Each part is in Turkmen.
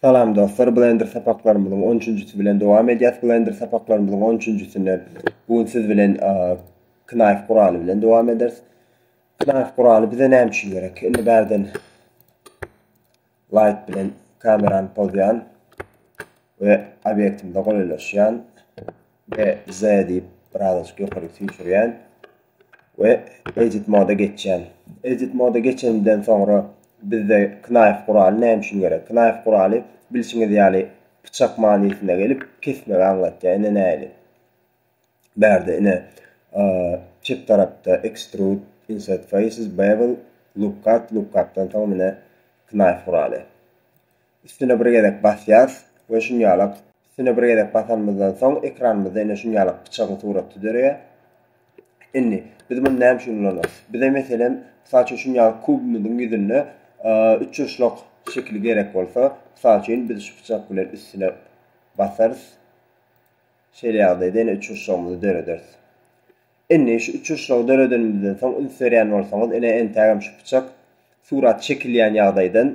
Salam dostlar Blender sapaklarymyzyň on üçünjisi bilen dowam edýäs Blender sapaklarymyzyň on üçünjisinde bu gün siz bilen knife guraly bilen dowam ederis knife guraly bize näme üçin gerek indi bärden light bilen kamerany pozýan we obýektimize golaýlaşýan we Z diýip birazajyk ýokaryk süýşürýän we Edit moda geçýän. Edit moda geçenimden soňra bizde knife guraly näme üçin gerek? Knife guraly bilşiňiz ýaly pyçak manysyna gelip kesmegi aňlatýar. Ine nähili? Bärde ine çep tarapda extrude, insert faces, bevel, look cut, look cut-dan soň ine knife guraly. Üstüne bir gezek basýarys we şunýalak üstüne bir gezek basanymyzdan soň ekranymyzda ine şunýalak pyçagyň suraty döreýär. Indi biz muny näme üçin ulanarys? Bize meselem mysal üçin şunýalak kubumyzyň ýüzünde üçburçlak şekili gerek bolsa, mysal üçin biz şu pyçak bilen üstüne basarys. Şeýle ýagdaýda ine üçburçlagymyzy dörederis. Indi şu uçuşygy döredenimizden soň üns berýän bolsaňyz, ine entägem şu pyçak surat çekilýän ýagdaýdan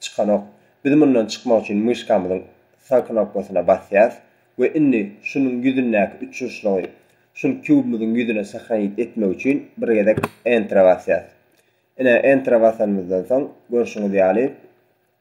çykanok. Biz mundan çykmak üçin myşkamyzyň sag knopkasyna basýas we indi şunuň ýüzündäki uçuşygy şul kubymyzyň ýüzüne sahranit etmek üçin bir gezek Entra basýas. Ine Entra basanymyzdan soň görşüňiz ýaly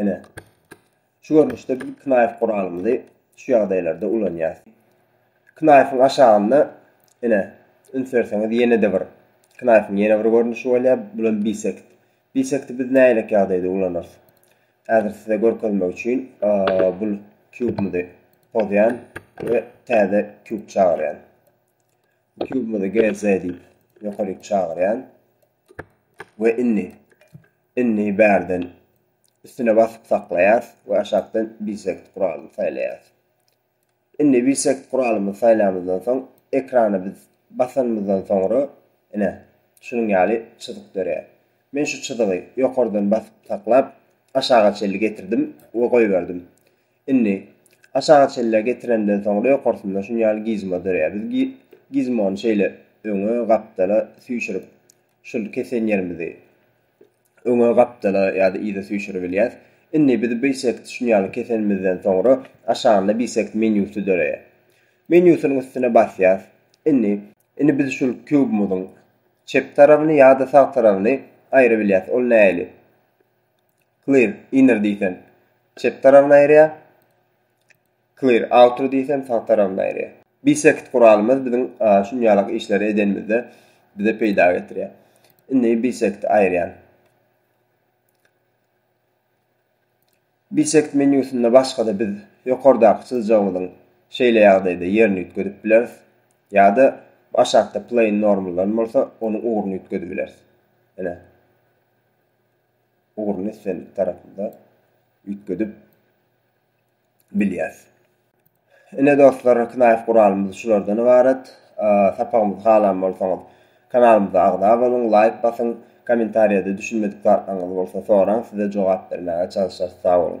Ine, şu görnüşde biz knaýf guralymyzy şu ýagdaýlarda ulanýarys. Knaýfyň aşagynda, ine, üns berseňiz, ýene-de bir knaýfyň ýene bir görnüşi bolýar, bul hem bisekt. Bisekti biz nähilek ýagdaýda ulanarys? Häzir size görkezmek üçin bul kubymyzy pozýan we täze kub çagyrýan. Kubymyzy GZ diýip ýokaryk çagyrýan. we inni inni bärden üstüne basyp saklaýas we aşakdan bisect guralyny saýlaýas. Inni bisect guralymyzy saýlamyzdan soň ekrana biz basanymyzdan soňra ine şunuň ýaly çyzyk dörýär. Men şu çyzygy ýokardan basyp saklap aşaga çenli getirdim we goýberdim. Indi, aşaga çenli getirenden soňra ýokarsynda şun ýaly gizmo döreýär. Biz gizmony şeýle öňe, gapdala süýşürip, şul kesen ýerimizi öňe, gapdala ýa-da yza süýşüribilýäs. Indi biz Bisect şun ýaly kesenimizden soňra aşagynda Bisect menýusy döreýär. Menýusynyň üstüne basýas. Indi, indi biz şul kubymyzyň çep tarabyny ýa-da sag tarabyny aýyrabilýäs. Ol nähili? Clear, inner diýsem, çep tarabyna aýyrýar. Clear, outer diýsem, sag tarabyna aýyrýar. Bisect guralymyz biziň şunýalak işleri edenimizde bize peýda getirýär. Indi bisect aýyrýan. Bisect menýusynda başga-da biz ýokardaky çyzjagymyzyň şeýle ýagdaýda ýerini üýtgedip bileris. Ýa-da aşakda plane normal-dan bolsa, onuň ugruny üýtgedibileris. Ine. ugruny islendik tarapymyza üýtgedip bilýäris. Ine dostlar, knaýf guralymyz şulardan ybarat. Sapagymyzy halan bolsaňyz, kanalymyza agza boluň, laýk basyň, kommentariýada düşünmedik zatlaryňyzy bolsa soraň, size jogap bermäge çalyşarys. Sag boluň!